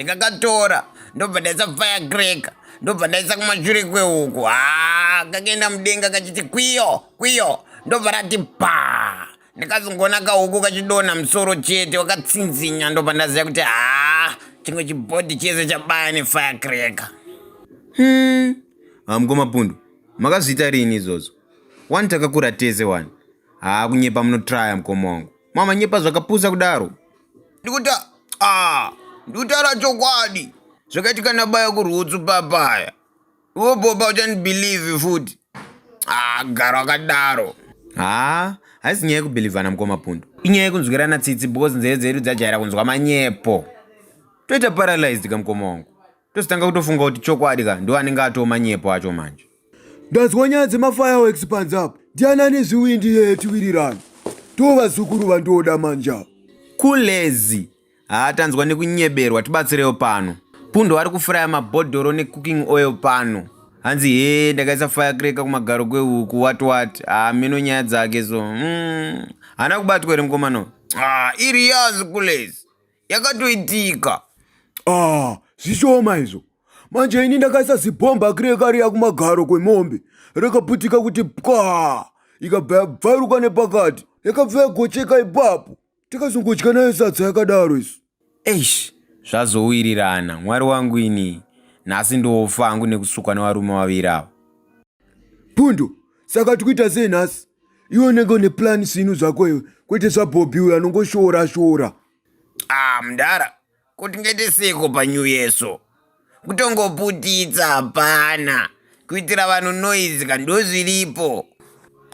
ndikakatora ndobva ndaisa fire grek ndobva ndaisa kumashure kwehuku ha kakaenda mudenga kachiti kwiyo kwiyo ndobva rati bhaa ndikazongoona kahuku kachidonha musoro chete wakatsinzinya ndobva ndaziva kuti haa chimwe chibhodhi chese chabaya nefire cracker hmm. hamkomapundu makazviita rini izvozvo wani takakura tese wani haa kunyepa munotraya mukoma wangu mama nyepa zvakapusa kudaro ndikuti a ndikutaura chokwadi zvakaitika nabaya kurwutsu papaya Wo boba uchani believe futi. Ah, garo akadaro. Ah, haisi nyaya yekubhilivhana mukoma pundu inyaya yekunzwirana tsitsi because nzeve dzedu dzajaira kunzwa manyepo toita paralyzed ka mukoma wangu tozotanga kutofunga kuti chokwadi ka ndo anenge atoo manyepo acho manje ndanzwa nyaya dzemafireworks panze apo ndiani ane zviwindi yeye tiwirirana tovazukuru vandoda manja kulezi Haa tanzwa nekunyeberwa tibatsirewo pano. Pundo ari kufuraya mabhodhoro necooking oil pano. Hanzi hee ndakaisa firecracker kumagaro kwehuku what what. Haa meno nyaya dzake so. Mm. Hana kubatwa here mukomano? Ah, iri yazi kulezi. Yakatoitika. Ah, zvishoma izvo. Manje ini ndakaisa zibhomba kireka riya kumagaro kwemombe. Rakaputika kuti pwa. Ikabva yabvaruka nepakati. Yakabva yagocheka ipapo. Tikazongodya nayo sadza yakadaro isu. Eish, zvazowirirana mwari wangu ini. Nhasi ndofa hangu nekusukwa nevarume vaviri ava. Pundo, saka tikuita sei nhasi? Iwe unenge une plan sinu zvako iwe, kwete zvaBobby uyo anongoshoora shoora. Ah, mdara, Kuti ngaite seiko pa new year so. Kutongoputitsa hapana. Kuitira vanhu noise ka ndozviripo.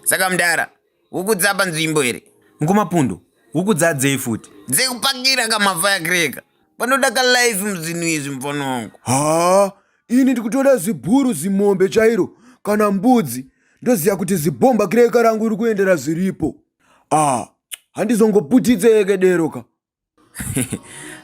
Saka mdara, huku dzapa nzvimbo here? Mkoma Pundu, huku dzadzei futi? Dzekupakira ka mafire cracker. Panoda ka life muzvinhu izvi mfonongo. Haa, ini ndikutoda zibhuru zimombe chairo kana mbudzi ndoziva kuti zibhomba kireka rangu riri kuendera zviripo. Ah, handizongoputitse yeke dero ka.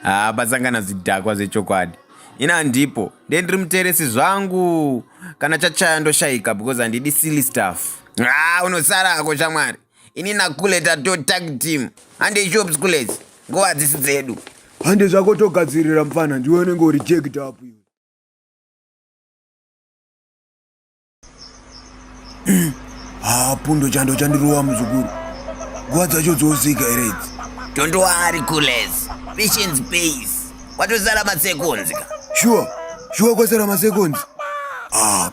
haa pasangana zvidhakwa zvechokwadi ini handipo nde ndiri muteresi zvangu kana chachaya ndoshaika because handidi silly staff haa unosara hako shamwari ini nakule tato tag team hande shop schooles nguva dzisi dzedu hande zvako togadzirira mfana ndiwe unenge uri jeked up haa pundo chando chandirova muzukuru nguva dzacho dzosika here idzi tondoari kules patience pays kwatosara masekonzi ka shuwa shuwa kwasara masekonzi ah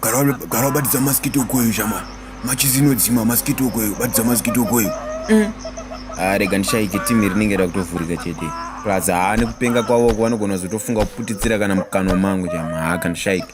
gara wabatidza maskito kweyu shamwari machizi inodzima maskito kweyu batidza maskito kweyu mm. ah, rega ndishaike timi rinenge rakutovhurika chete plus haa nekupenga kwavo ko vanogona kuzotofunga kuputitsira kana mukanwa mangu chama haa kandishaike